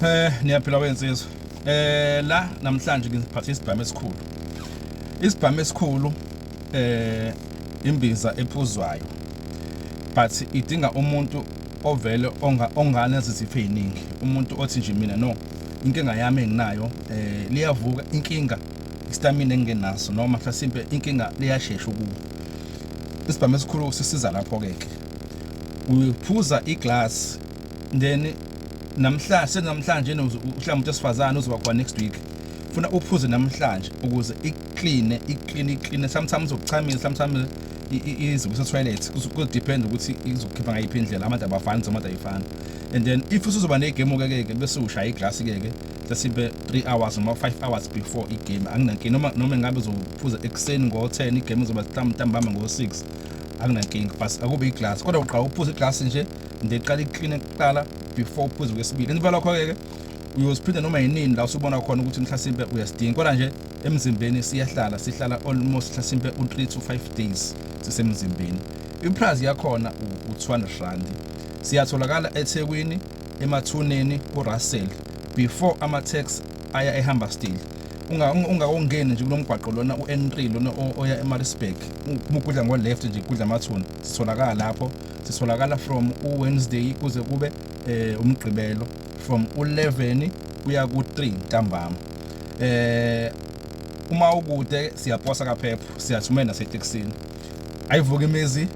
Eh niyaphila wensizwa. Eh la namhlanje ngiziphathe isibhamu esikhulu. Isibhamu esikhulu eh imbiza ephuzwayo. But idinga umuntu ovele onga ongane ziziphe eziningi. Umuntu othi nje mina no inkinga yami enginayo eh liyavuka inkinga istamina engenaso noma mhlasimpe inkinga liyashesha ukuba isibhamu esikhulu sisiza lapho ke ke uyiphuza iglass then namhlanje senamhlanje uhlamba umuntu esifazane uzoba khona next week funa uphuze namhlanje ukuze ikline ikline ikline sometimes ukuchamisa sometimes izinto setoilet kudepend ukuthi izokhipha ngayiphi indlela amanzi abafani zamanzi ayifani and then if usuzoba negame okekeke bese ushaya iglasi keke sesibe 3 hours noma 5 hours before igame anginankinga noma noma ngabe uzophuza ekuseni ngo-10 igame izoba mhlawumbe ntambama ngo-6 anginankinga but akube iglasi kodwa uqala uphuza iglasi nje ndiqala ikline kuqala before uphuze kwesibili emva lokho-ke ke uyosiphinda noma yinini la usubona khona ukuthi mhlasimpe uyasidinga kodwa nje emzimbeni siyahlala sihlala almost mhlasimpe u-3 to 5 days sisemzimbeni iprice yakhona u-200 rand siyatholakala ethekwini emathuneni kurussell before ama-tax aya ehamba still ungakongeni nje kulomgwaqo lona u-n3 lona oya emarisburg mugudla ngo-left nje gudla amathuna sitholakala lapho sitholakala from uWednesday kuze kube eh, umgqibelo from u11 kuya ku3 ntambama eh uma ukude siyaposa kaphepho siyathumela naseTexini ayivuka imizi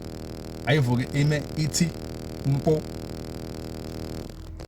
ayivuke ime ithi mpo